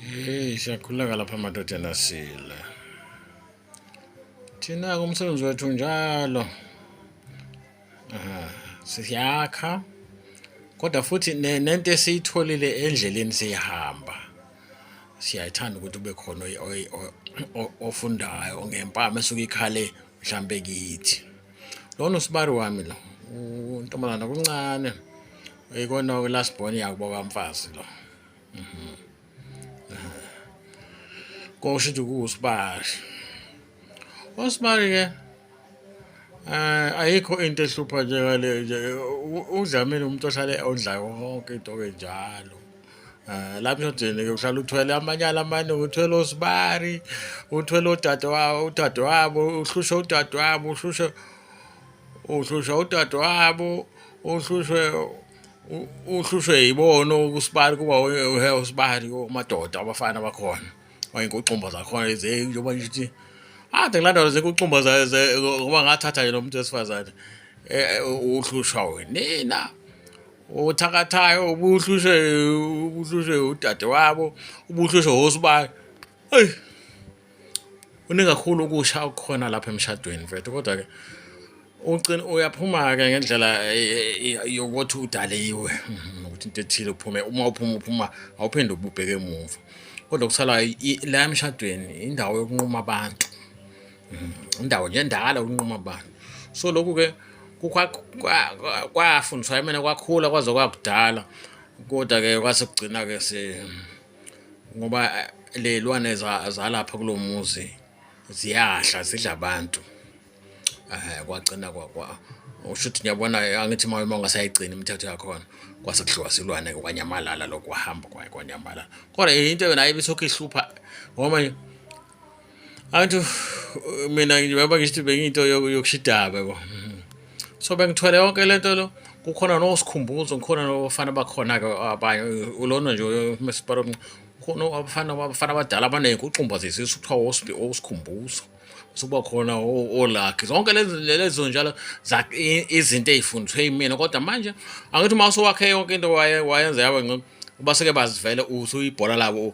Hey, siyakhuleka lapha amadodana sile. Thina kumsebenzi wethu njalo. Aha, siyakha. Kodwa futhi nento esiyitholile endleleni siyihamba. Siyayithanda ukuthi ube khona ofundayo ngempama esuke ikhale mhlambe kithi. Lona usibari wami lo. Untombazana kuncane. Ikona last born yakubo kamfazi lo. Koşu mhm. tugu usbar. Usbar ke eh, ayikho into ehlupha njengale nje udlamile umuntu ohlale ondla konke into enjalo Eh, lapho emshodini-ke uhlala uthwele amanyala amaningi uthwele osibari uthwele udadewabo udadewabo uhlushwe udadewabo uhlushwe uhlushwa udadewabo uhlushwe uhlushwe yibona ukusibali kuba uhe usibali umadoda abafana bakhona oyinkuxumba zakhona lezi njengoba nje ukuthi ade kulandwa zekuxumba ngoba ngathatha yena umuntu wesifazane eh, eh, uhlushwa wenina othakathayo ubuhlushwe ubuhlushwe udade wabo ubuhlushwe wosibali eyi Kuningi kakhulu okusha okukhona lapha emshadweni mfethu kodwa-ke ucina uyaphuma-ke ngendlela yokuthi udaliwe mhm, ukuthi into ethile uphume uma uphuma uphuma awuphinde ububheke emuva kodwa kusalayo la emshadweni indawo yokunquma abantu mhm, indawo nje endala ukunquma abantu so lokhu-ke kwafundiswa yimina kwakhula kwaze kwakudala kodwa-ke kwase kugcina-ke ngoba eh, ley'lwane zalapha kulo muzi ziyadla zidla abantu um kwagcina usho ukuthi ngiyabona angithi uma uma ungasayigcini imithetho yakhona kwase kudliwa silwane kwanyamalala lokhu kwahamba kwanyamalala kodwa into yona ayibe sokhihlupha ngoba angithi mina njengoba ngisho ukuthi bengiyinto yokushidaba yabo so bengithwele yonke le nto lo kukhona nosikhumbuzo ngikhona nobafana bakhona-ke abanye ulona nje umesipara omnci khona abafana abafana abadala abaningi kuxumba zesisu kuthiwa osikhumbuzo sukuba khona olakhe zonke lezo njalo izinto ey'fundiswe yimina kodwa manje angithi uma usowakhe yonke into wayenza yaba ngcono baseke bazivele uthi uyibhola labo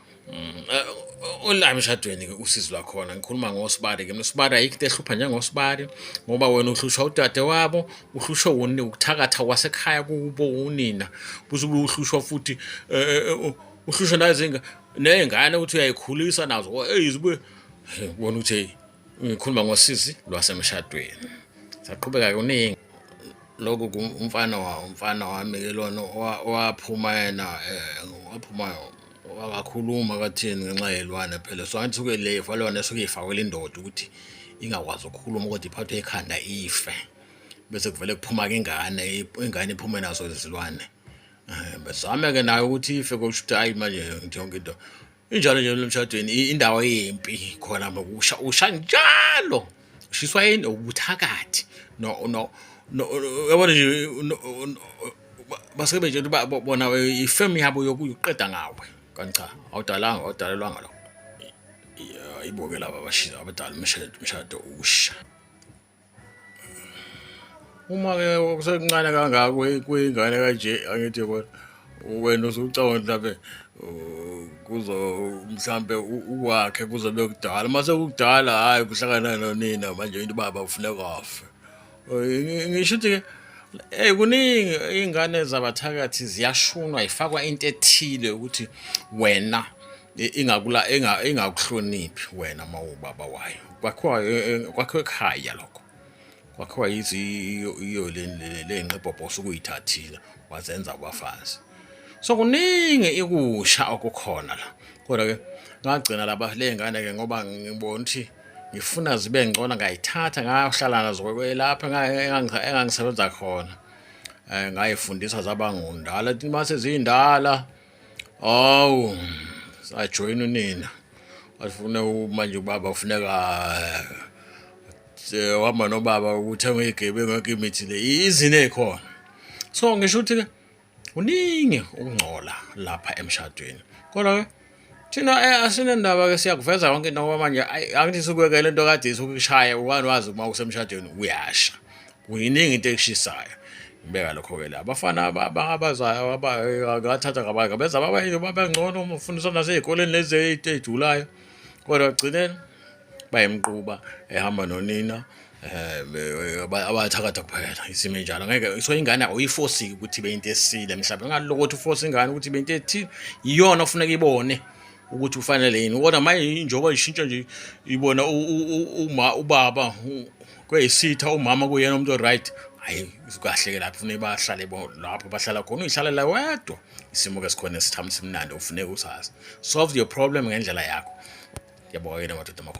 Mm, eh, Ola emshadweni ke usizi lwakhona ngikhuluma ngosibari ke nosibari ayikho into ehlupha njengosibari ngoba wena uhlushwa udade wabo uhlushwe woni ukuthakatha kwasekhaya kubo unina buze ube uhlushwa futhi eh, eh, eh, u- uhlushwa nazinga nezingane ukuthi uyayikhulisa nazo eyizibe bona ukuthi hey ngikhuluma ngosizi lwasemshadweni saqhubeka kuningi lokhu umfana umfana wami ke lona owaphuma yena eh, waphuma wakakhuluma kathini ngenxa yelwane phela so angithi suke le fa lona suke ifakwela indoda ukuthi ingakwazi ukukhuluma ukuthi iphathwe ekhanda ife bese kuvele kuphuma ke ingane ingane iphume nazo izilwane eh, besame ke nayo ukuthi ife kusho ukuthi hayi manje yonke into injalo nje emshadweni indawo yempi khona ngokusha usha njalo ushiswa yini ubuthakathi no no yabona nje basebenze nje bona ifemu yabo yokuqeda ngawe kanti cha awudalanga awudalelwanga lokho iboke laba abashisa abadala umshado umshado usha Uma ke kusekuncane kangaka kuyingane kanje angithi kodwa wena usucabanga mhlambe uh, kuzo mhlambe ukwakhe kuzobe kudala mase kudala hayi kuhlangana nonina manje into baba ufune kwafe ngisho ukuthi ke Hey kuningi iy'ngane zabathakathi ziyashunwa yifakwa into ethile ukuthi wena ingakula enga engakuhloniphi wena mawubaba wayo kwakhiwa e, e, kwakhiwa ekhaya lokho kwakhiwa yithi iyo lenqebhobhosa ukuyithathile wazenza abafazi so kuningi ikusha okukhona la kodwa ke ngagcina laba lengane ke ngoba ngibona ukuthi ngifuna zibe ngcono ngayithatha ngayohlala nazo kwelapha engangisebenza khona um ngayifundisa zaba ngundala mase ziyindala Hawu sajoyina unina afune manje ubaba ufuneka eh, wahamba nobaba ukuthenga igebe ngeke imithi le izine ekhona so ngisho ukuthi ke uningi ukungcola lapha emshadweni kodwa ke thina eh, asinendaba ke siyakuveza konke into ngoba manje angithi sukuyekela into kade isukishaya ukwani wazi uma usemshadweni uyasha kuyiningi into ekushisayo ngibeka lokho-ke la abafana abangabazayo abathatha kabaka benza babayini babengcono umfundiswa nasey'koleni lezi ey'tejulayo kodwa ekugcineni bayemquba ehamba nonina Eh, abathakatha kuphela isimo enjalo ngeke so ingane awuyifosiki ukuthi ibe into esile mhlawumbe ngaloko ukuthi ufosa ingane ukuthi ibe into ethile iyona ofuneka ibone ukuthi ufanele yini kodwa manje njengoba ishintsha nje ibona ubaba kweyisitha umama kuyena umuntu oright hayi kahle ke lapho funeka bahlale lapho bahlala khona uyihlalela wedwa isimo ke sikhona esithambisa imnandi ufuneka usazi solve your problem ngendlela yakho yabo yena madoda